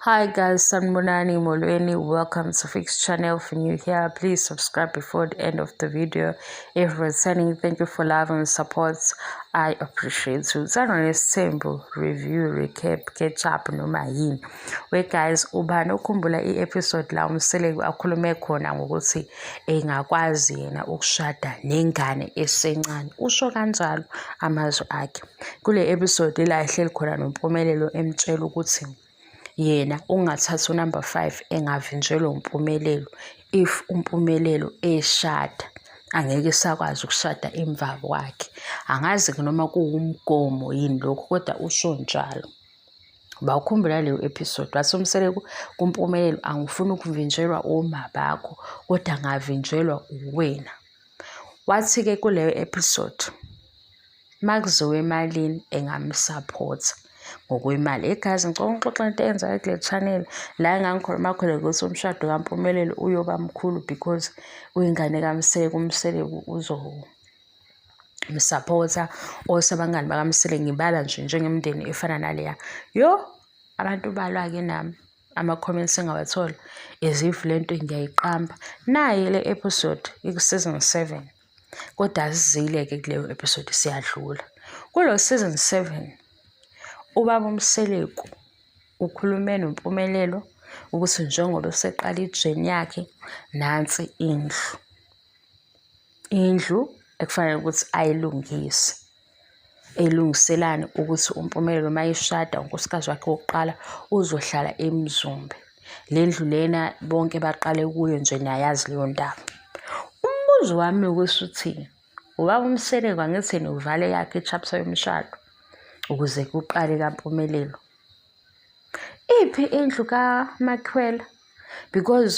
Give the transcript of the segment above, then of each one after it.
Hi guys, Sanbonani Molweni, welcome to Fix channel. If you're new here, please subscribe before the end of the video. If returning, thank you for love and support. I appreciate you. Send on a simple review, recap, catch up, no mayin. We guys, ubani ukhumbula i-episode la umseleku akhulume khona ngokuthi engakwazi yena ukushada nengane esencane. Usho kanjalo amazwi akhe. kule episode ila ehleli khona nompumelelo emtshela ukuthi yena ungathatha unumber five engavinjelwa umpumelelo if umpumelelo eshada angeke esakwazi ukushada emva kwakhe angazi-ke noma kuwumgomo yini lokhu kodwa usho njalo bawukhumbula leyo episode wathi umseleku kumpumelelo angifuni ukuvinjelwa oma bakho kodwa ngavinjelwa uwena wathi-ke kuleyo episode makuziwa emalini engamsaphotha ngokwemali egazi ngicela ngixoxe into eyenzeka kule channel la engangikhuluma khona ukuthi umshado kampumelelo uyoba mkhulu because uyingane kamsele kumsele uzo msapotha osabangani bakamsele ngibala nje njengemndeni efana naleya yo abantu balwa-ke nami ama-comments engawathola as if le nto ngiyayiqamba naye le episode iku-season seven kodwa asizile-ke kuleyo episode siyadlula kulo season seven ubaba umseleku ukhulume nompumelelo ukuthi njengoba useqala ijeni yakhe nansi indlu indlu ekufanele ukuthi ayilungise elungiselani ukuthi uMpumelelo uma eshada unkosikazi wakhe wokuqala uzohlala eMzumbe le ndlu lena bonke baqale kuyo nje niyayazi leyo ndaba umbuzo wami ukuthi uthini ubaba umseleko angithini uvale yakhe i-chapter yomshado ukuze kuqale kampumelelo iphi indlu kaMakhwela because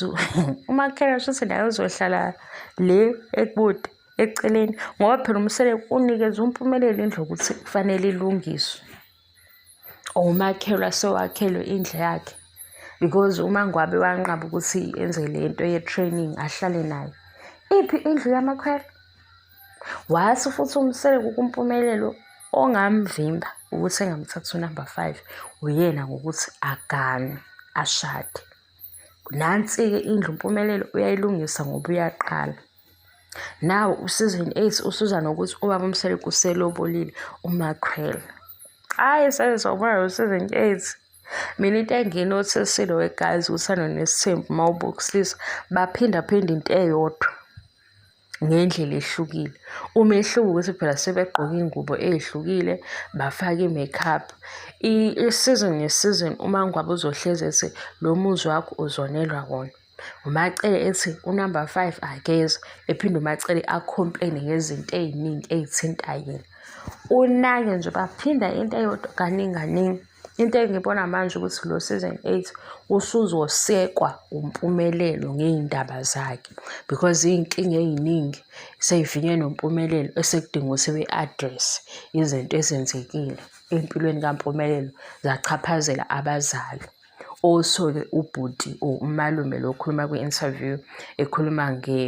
uMakhwela shuthi naye uzohlala le ekude eceleni ngoba phela umsele unikeza umpumelelo indlu ukuthi kufanele ilungiswe or umakhelwa sewakhelwe indlu yakhe because umangwabe wanqaba ukuthi enze le nto ye-training ahlale nayo iphi indlu yamakhwela Wase futhi uMseleku kuMpumelelo ongamvimba ukuthi engamthatha unumber five uyena ngokuthi agane ashade. Nansi-ke indlu uMpumelelo uyayilungisa ngoba uyaqala. Nawo uSeason eight usuza nokuthi ubaba uMseleku uselobolile uMakhwela. Hhayi saze sawubona lo Season eight. Mina into enginothesile wegazi uthando nesithembu uma ubukisisa baphindaphinda into eyodwa. ngendlela ehlukile umehluko ukuthi phela sebegqoka ingubo ezihlukile bafake i-makeup i-season nge-season uma ngwabe uzohlezi ethi lo muzi wakho uzonelwa wona umacele ethi unumber five akeze ephinde umacele acomplaine ngezinto ey'ningi ey'thinta yena unake nje baphinda into eyodwa kaningi kaningi Into engibona manje ukuthi lo season eight usuzosekwa uMpumelelo ngey'ndaba zakhe because iy'nkinga ey'ningi sey'vinye noMpumelelo esekudinga ukuthi be-address izinto ezenzekile empilweni kaMpumelelo zachaphazela abazali. Also-ke ubhuti or umalume lo okhuluma kwi-interview ekhuluma nge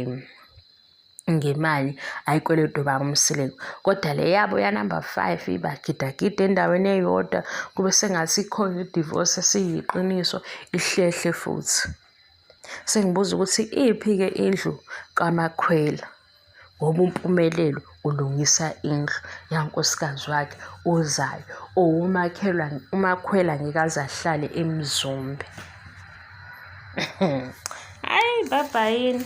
ngemali ayikweletu baba uMseleku kodwa le yabo yanumber five ibagidagida endaweni eyodwa kube sengathi ikhona idivorce esiyiqiniso ihlehle futhi sengibuza ukuthi iphi-ke indlu kamakhwela ngoba umpumelelo ulungisa indlu yankosikazi wakhe ozayo owumakhelwa umakhwela ngeke aze ahlale emzombe hayi baba yini